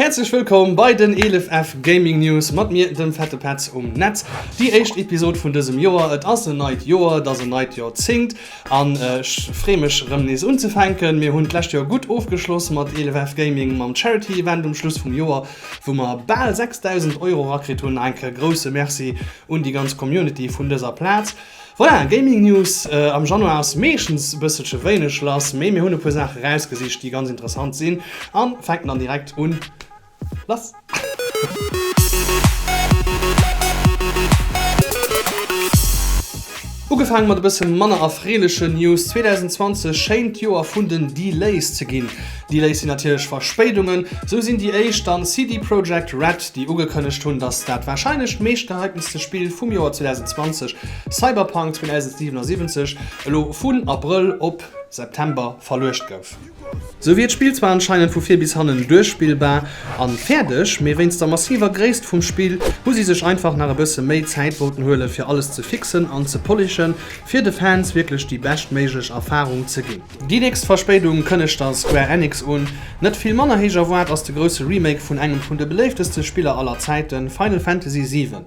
Häerzlech wëllkomm bei den 11 F Gaming News mat mir, dem Fette Petz um Netz. Déi éischt Episod vun dësem Joer. Et ass en neit Joer, et ass en neit Joerzéngt an ech free mech erëm nees unzefänken. Mir hunn d'lescht Joer gutt ofgeschloss mat 11 F Gaming mam Charity Event um Schluss vum Joer, wou mer bal 6.000 Euro rakritt hunn. Enke grousse Merci un déi ganz Community vun dëser Plaz. Voilà, Gaming News am Januar ass meeschtens e bësselche wéineg lass, mee mir hunn e puer Saache rausgesicht, déi ganz interessant sinn a fänken dann direkt un. Lass. Ugefaange mat e bësse manner erfreelechen News, 2020 schéint d'Joer vun den Delays ze ginn. Delays sinn natierlech Verspéidungen. Sou sinn déi éischt dann CD Projekt Red, déi ugekënnegt hunn, datt dat warscheinlech meeschtgehyptenste Spill vum Joer 2020, Cyberpunk 2077, elo vun Abrëll op September verluecht gouf. Sou wier d'Spill zwar anscheinend vu vir bis hannen duerchspillbar a fäerdeg, mee wéinst der massiver Gréisst vum Spill hu si sech einfach nach e bësse méi Zäit wollten huelen, fir alles ze fixen an ze polishen, fir de Fans wierklech déi beschtméiglech Erfarung ze ginn. Déi nächst Verspéidung kënnegt der Square Enix un. Net vill manner héich erwaart ass de grousse Remake vun engem vun de beléifteste Spiller aller Zäiten, Final Fantasy VII.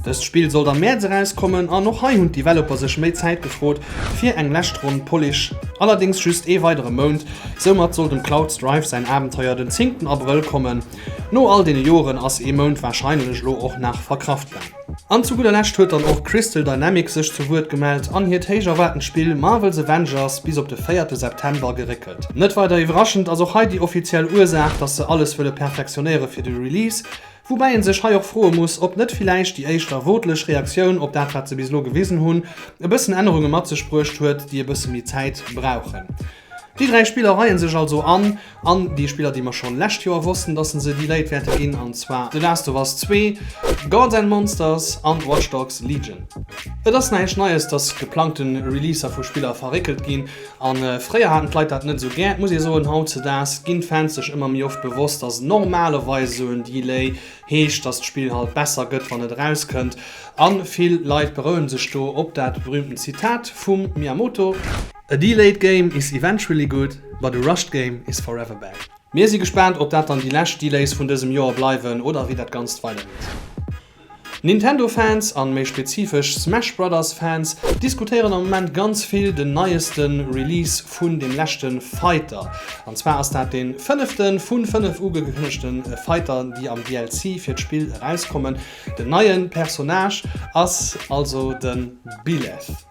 Dëst Spill sollt am Mäerz erauskommen an och hei hunn d'Developer sech méi Zäit gefrot fir eng lescht Ronn Polish, allerdéngs just ee weidere Mount. Soumat soll dem Cloud Strife säin Abenteuer den zéngten Abrëll kommen. No all deene Joren ass ee Mount warscheinlech elo och nach verkraftbar. An zu gudder Lescht huet dann och Crystal Dynamics sech zu Wuert gemellt an hiert héich erwaartent Spill Marvel's Avengers bis op de véierte September geréckelt. Net weider iwwerraschend ass och hei déi offiziell Ursaach, dass se alles wëlle perfektionéiere fir de Release, woubäi een sech hei och froe muss, ob net villäicht déi éischt erwoortlech Reaktioun op dat wat se bis elo gewisen hunn, e bëssen Ännerunge mat sech bruecht huet, déi e bësse méi Zäit brauchen. Déi dräi Spiller reien sech also an an déi Spiller déi mer schon lescht Joer wossten dass en se déi Léit wäerte ginn an zwar The Last of Us Zwee, Gods and Monsters an Watch Dogs Legion. Et ass näischt Neies dass geplangte Releaser vu Spiller verréckelt ginn an fréier haten d'Leit dat net esou gär. Et muss ee soen hautzedaags ginn d'Fans sech ëmmer méi oft bewosst dass normalerweis esou en Delay heescht dass d'Spill halt besser gëtt wann et eraus kënnt an vill Leit berouen sech do op dat berühmten Zitat vum Miyamoto, A delayed game is eventually good, but a rushed game is forever bad. Mir si gespaant op dat dann déi lescht Delays vun dësem Joer bleiwen oder wéi dat Ganzt weidergeet. Nintendo Fans an méi spezifesch Smash Brothers Fans diskutéieren am Moment ganz vill den neiesten Release vun dem leschten Fighter. An zwar ass dat den fënneften vun 5 ugekënnegten Fighter déi am DLC fir d'Spill erauskommen. Den neien Personnage ass also den Byleth.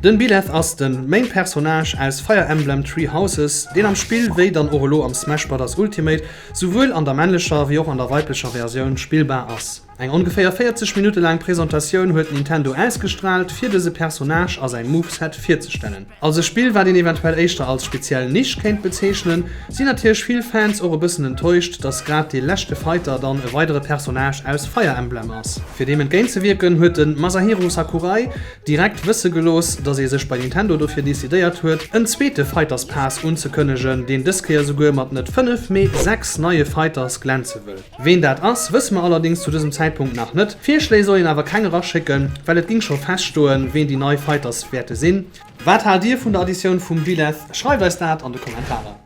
Den Byleth ass den Main Personnage aus Fire Emblem Three Houses, deen am Spill, wéi dann och elo am Smash Brothers Ultimate, souwuel an der männlecher wéi och an der weiblecher Versioun spillbar ass. Eng ongeféier 40 Minutte laang Presentatioun huet Nintendo ausgestraalt, fir dëse Personnage a säi Moveset virzestellen. Als e Spill wat een eventuell éischter als speziell Nisch kéint bezeechnen, sinn natierlech vill Fans och e bëssen enttäuscht, dass grad dee leschte Fighter dann e weidere Personnage aus Fire Emblem ass. Fir deem entgéint ze wierken, huet de Masahiro Sakurai direkt wësse gelooss, dass ee sech bei Nintendo dofir decidéiert huet, en zweete Fighters Pass unzekënnegen, deen dës Kéier souguer mat net 5, mee 6 neie Fighters glänze wëll. Ween dat ass, wësse mer allerdéngs zu dësem Zäitpunkt nach net. Virschléi soll een awer keng eraschécken, well et ging scho feststoen, ween déi nei Fighters wäerte sinn. Wat haalt Dir vun der Additioun vum Byleth? Schreift eis dat an de Kommentarer.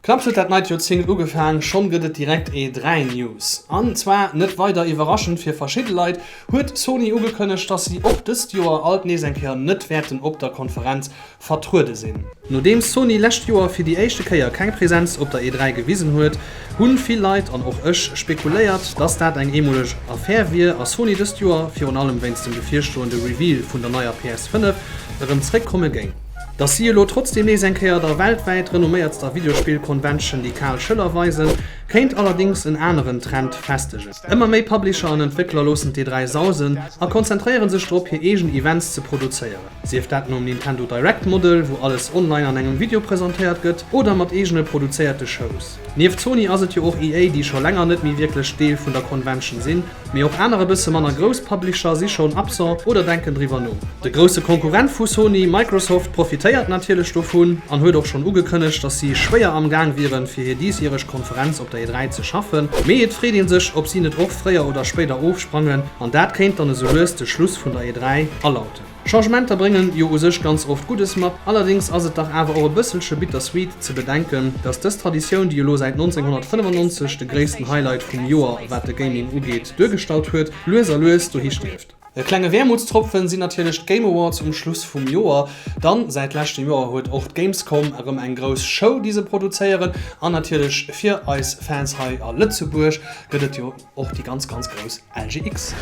Knapps huet dat neit Joerzéngt ugefaang, schonn gëtt et direkt ee dräi News. An zwar, net weider iwwerraschend fir verschidde Leit, huet Sony ugekënnegt, dass si och dëst Joer alt nees eng Kéier net wäerten op der Konferenz vertruede sinn. Nodeems Sony lescht Joer fir déi éischte Kéier keng Presenz op der E3 gewisen huet, hunn vill Leit, an och ech, spekuléiert, dass dat eng eemoleg Affär wier a Sony dëst Joer, virun allem wéinst dem bevirstoende Reveal vun der neier PS5, erëm zréck komme géing. Dass si elo trotzdeem nees eng Kéier der weltwäit renomméiertster Videospill-Convention déi kal Schëller weisen, kéint allerdéngs en aneren Trend festegen. Ëmmer méi Publisher an Entwéckler loossen d'E3 sausen a konzentréiere sech drop hir eegen Events ze produzéieren. Sief dat nom Nintendo Direct Model, wou alles online an engem Video presentéiert gëtt, oder mat eegene produzéierte Shows. Nieft Sony ass et jo och EA, déi scho länger net méi wierklech Deel vun der Convention sinn, mee och aner e bësse manner grouss Publisher si schonn absent oder denken driwwer no. De grousse Konkurrent vu Sony, Microsoft, profitéiert natierlech dovun an huet och schonn ugekënnegt, dass si schwéier am Gaang wieren, fir hir diesjäreg Konferenz op der E3 ze schaffen. Mee et freet ee sech, ob si net och fréier oder spéider ofsprangen, an dat kéint dann esou lues de Schluss vun der E3 alauten. Changementer bréngen jo u sech ganz oft Guddes mat, allerdéngs ass et dach awer och e bësselche bittersweet ze bedenken, dass dës Traditioun, déi elo säit 1995 de gréissten Highlight vum Joer wat de Gaming ugeet duergestallt huet, lues a lues dohi stierft. E klenge Wäermutstropfen sinn natierlech d'Game Awards um Schluss vum Joer, dann säit leschtem Joer huet och d'Gamescom erëm eng grouss Show déi se produzéieren, an natierlech fir eis Fans hei a Lëtzebuerg gëtt et jo och déi ganz ganz grouss LGX.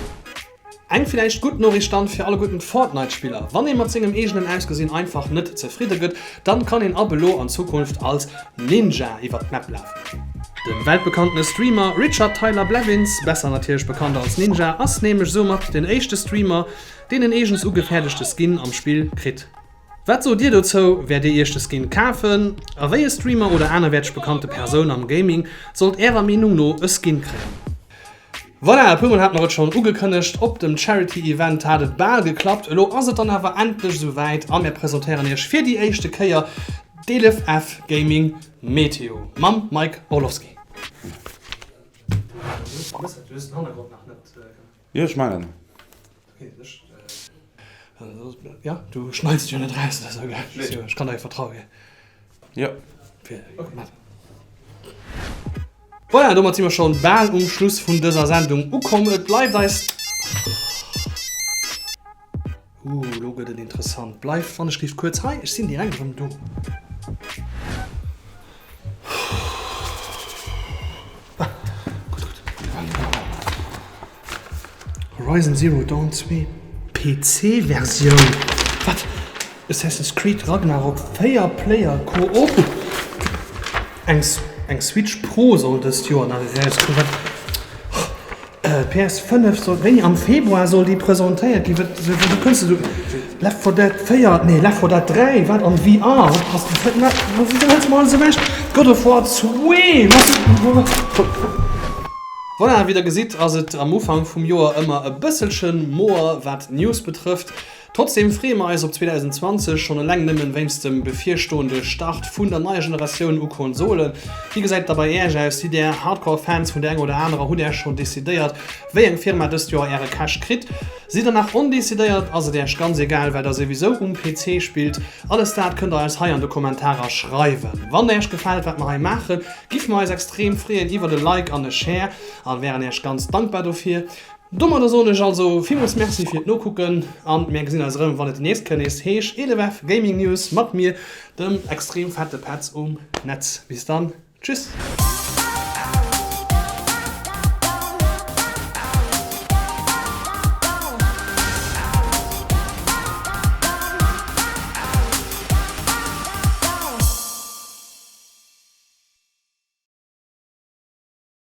Eng villäicht gutt Noriicht dann fir alle gudden Fortnite Spiller, wann een mat sengem eegenen Ausgesinn einfach net zefridde gëtt, dann kann een ab elo an Zukunft als Ninja iwwert d'Map lafen. Den weltbekanntene Streamer Richard Tyler Blevins, besser natierlech bekannt als Ninja, ass nämlech soumat den éischte Streamer deen en eegens ugefäerdegte Skin am Spill kritt. Wat sot dir dozou? Wäert dir iech de Skin kafen? A wéi e Streamer oder anerwäerteg bekannte Persoun am Gaming sollt ärer Meenung no e Skin kréien? Voilà, e puer Mol hat mer et schonn ugekënnegt, op dem Charity Event hat et bal geklappt. Elo ass et dann awer endlech esou wäit a mir presentéieren iech fir déi éischte Kéier d'ElefF Gaming Meteo mam Mike Orlowski. Voilà, domat si mer scho bal um Schluss vun dëser Sendung ukomm. Et bleift eis. Huu, elo gëtt et interessant. Bleift, wann ech géif kuerz hei, ech sinn direkt erëm do. Horizon Zero Dawn 2 PC Versioun? Wat? Assassin's Creed Ragnarok 4 Player Co-op? Eng Switch Pro soll dëst Joer nach erauskommen? PS. 5 soll wéi am Februar soll déi presentéiert ginn. Wat soll wéi kënnst du Left 4 Dead 4 nee Left 4 Dead 3 wat an VR wat passt dat wat wat wéi hëls du alles ewech God of War zwee wat. Voilà wéi der gesitt ass et am Ufank vum Joer ëmmer e bësselchen moer wat d'News betrëfft. Trotzdeem freeë mer eis op 2020, schonn eleng nëmmen wéinst dem bevirstoende Start vun der neier Generatioun u Konsolen. Wéi gesäit da bei Äech aus? Sidd Där Hardcore Fans vun der enger oder anerer? Hutt Äech schonn decidéiert wéi eng Firma dëst Joer Äre Cash kritt? Sidd Der nach ondecidéiert? Ass et Äech ganz egal well Der souwisou um PC spillt? Alles dat kënnt Der eis hei an de Kommentarer schreiwen. Wann Äech gefält wat mer hei maachen, giff mer eis extrem freeën iwwert e Like an e Share a wären Äech ganz dankbar dofir. Domadder soen ech also villmools Merci fir d'Nokucken an mär gesinn eis erëm wann et déi nächst kënn nees heesch EDEWF Gaming News mat mir dem extrem fette Petz um Netz. Bis dann, tschüss!